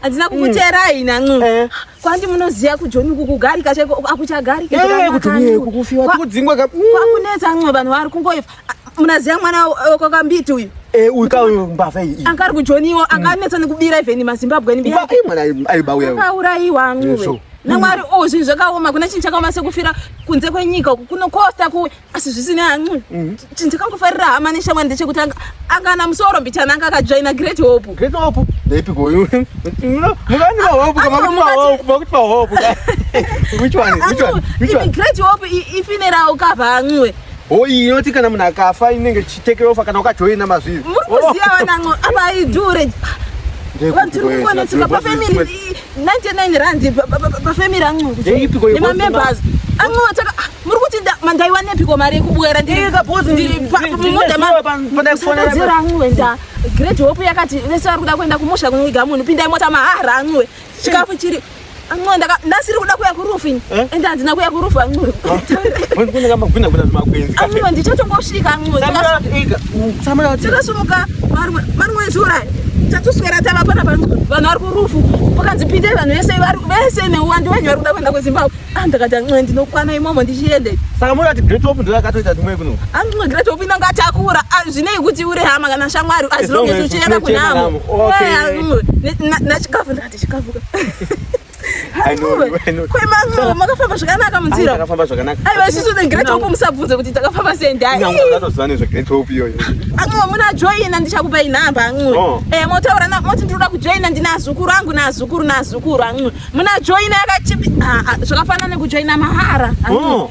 Hadzina kukuteerai ina ncu. Eh. Kwandi munoziya kujoni uku kugarika chaiko akuchagarika. Eh, kuti uye kukufiwa kudzingwa ka. Kwakunetsa ncu vanhu vari kungoifa. Munaziya mwana wekwaKambiti uyu. Eh, uyu ka uyu mbavha iyi. Anga ari kujoniwo, anga anetsa nekubira even maZimbabwe ni biya. Mbavha mwana aibauya. Akauraiwa ncu. Namwari ozvi oh, zvakaoma kuna chinhu chakaoma sekufira kunze kwenyika uku kunokosta kuwe. asi zvisine hancu mhm. chindikangofarira hama neshamwari ndechekuti angana musoro mbichana anga akajoina great hope great hope ndaipi koyo mukani mahope kamakuti mahope which one which one which one great hope ifinera ukava hancuwe hoyi inoti kana munhu akafa inenge chitekerofa kana ukajoina mazviri muri kuziva vanancu apa idure vanhu tiri kukonetseka pafamily 99 rand pafamily ancuku nemamembers ancuataka ah, muri kuti mandaiwanepiko mari yekubwera ndirimudamusadadzira ancuwe nda great hope yakati vese vari kuda kuenda kumusha kunwiga munhu pindai mota mahara ancuwe chikafu chiri ancuwe ndasiri kuda kuya kurufu ini eh? ende handina kuya kurufu ancuwe ancuwe ndichatongosvika ancuwe tinosimuka marimwe ezura tatuswera tava pana vanhu vari kurufu pakanzi pindai vanhu vese vese neuwandu venyu vari kuda kuenda kuzimbabwe ah ndakati ancoe ndinokwana imomo ndichiende saka moda kuti great hope ndoyakatoita dzimwe kuno ancoe great hope inonga takura ah, zvinei kuti uri hama kana shamwari as long as uchienda kunamo nachikafu ndakati chikafuka makafamba zvakanaka munzira takafamba zvakanaka aiwa isusu the great hope musabvunze kuti takafamba sei ndaiatoziva nezve great hope iyoyo anxiwe muna joina ndichakupai nhamba anxiwe oh. eh, motaura moti ndinoda kujoina ndina azukuru angu naazukuru naazukuru anxiwe muna joina yakachipi ah, ah, zvakafanana nekujoina mahara oh.